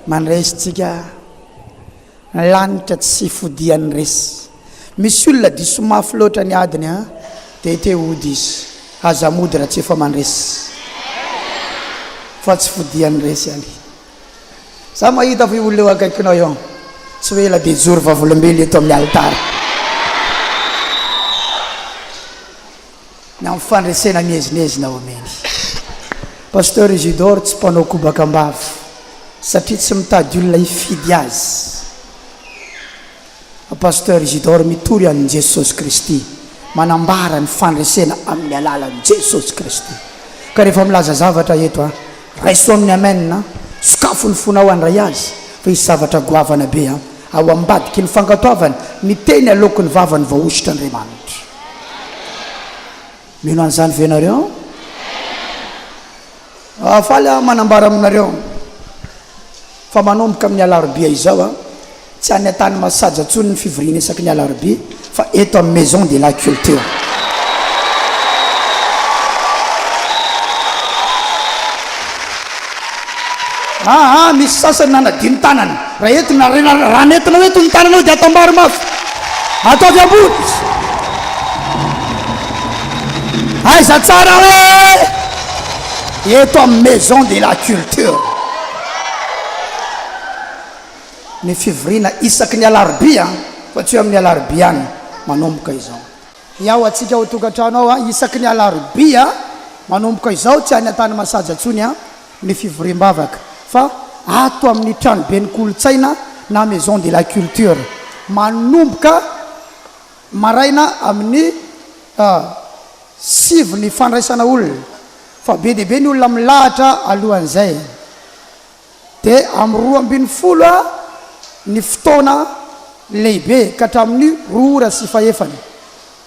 Mandresy tsika ny lanitra tsy fodiany resy misy olona diso mafy loatra ny adiny a dia te hody izy aza mody raha tsy efa mandresy fa tsy fodiany resy any za mahita fa io olona eo akaikinao eo tsy ho ela dia hijoro vavolombelona eto amin'ny alitara Ny amin'ny fandresena miezinezina omeny. Pasteur Isidore tsy mpanao kobaka am-bava satria tsy mitady olona hifidy azy. Pasteur Isidore mitory an'i Jesosy Kristy, manambara ny fandresena amin'ny alalan'i Jesosy Kristy. Ka rehefa milaza zavatra eto an, raiso amin'ny amen an, sokafo ny fonao handray azy fa hisy zavatra goavana be an, ao ambadiky ny fankatoavana ny teny aloaky ny vavany vao hosotra Andriamanitra. Mino an'izany ve ianareo? Ah, faly aho manambara aminareo fa manomboka amin'ny alarobia izao, ah, tsy any an-tany masaja intsony ny fivoriana isaky ny alarobia fa eto amin'ny Maison de la Culture. Ah, ah, misy sasany nanadino tanana. Raha entina, raha nentina ho eto ny tananao dia atambaro mafy. Ataovy ambony. Aiza tsara hoe eto amin'ny Maison de la Culture. Ny fivoriana isaky ny alarobia fa tsy hoe amin'ny alarobia ihany, manomboka izao. Hiao antsika ao an-tokantrano ao isaky ny alarobia manomboka izao, tsy any Antanimasaja intsony an. ny fivoriam-bavaka fa ato amin'ny tranoben'ny kolontsaina na Maison de la Culture. Manomboka maraina amin'ny sivy ny fandraisana olona fa be dia be ny olona milahatra alohan'izay. Dia amin'ny roa ambin'ny folo ny fotoana lehibe ka hatramin'ny roa ora sy fahefany.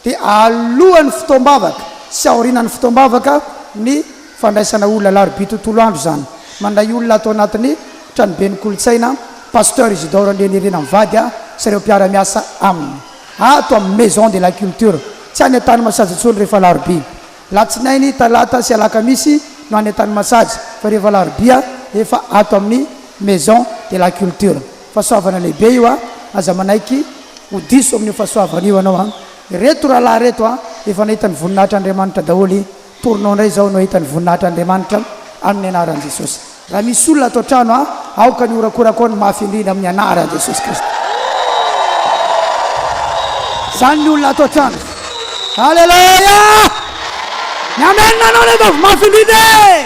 dia alohan'ny fotoam-bavaka sy aorianan'ny fotoam-bavaka ny fandraisana olona alarobia tontolo andro izany. Mandray olona ato anatin'ny Tranoben'ny Kolontsaina Pasteur Isidore Andrianirina mivady ahy sy ireo mpiara-miasa aminy ato amin'ny Maison de la Culture. Tsy any Antanimasazy intsony rehefa alarobia. Alatsinainy, talata sy alakamisy no any Antanimasazy fa rehefa alarobia efa ato amin'ny Maison de la Culture. Fahasoavana lehibe io a! Aza manaiky ho diso amin'io fahasoavana io ianao a! Ireto rahalahy ireto a! Efa nahita ny voninahitr' Andriamanitra daholo, torinao indray izao no hahita ny voninahitr' Andriamanitra amin'ny anaran'i Jesosy. Raha misy olona ato an-trano a! Aoka ny horakorako ao ny mafy indrindra amin'ny anaran'i Jesosy Kristy. Izany ny olona ato an-trano. Aleloia! Ny amen-anao anie ataovy mafy indrindra e!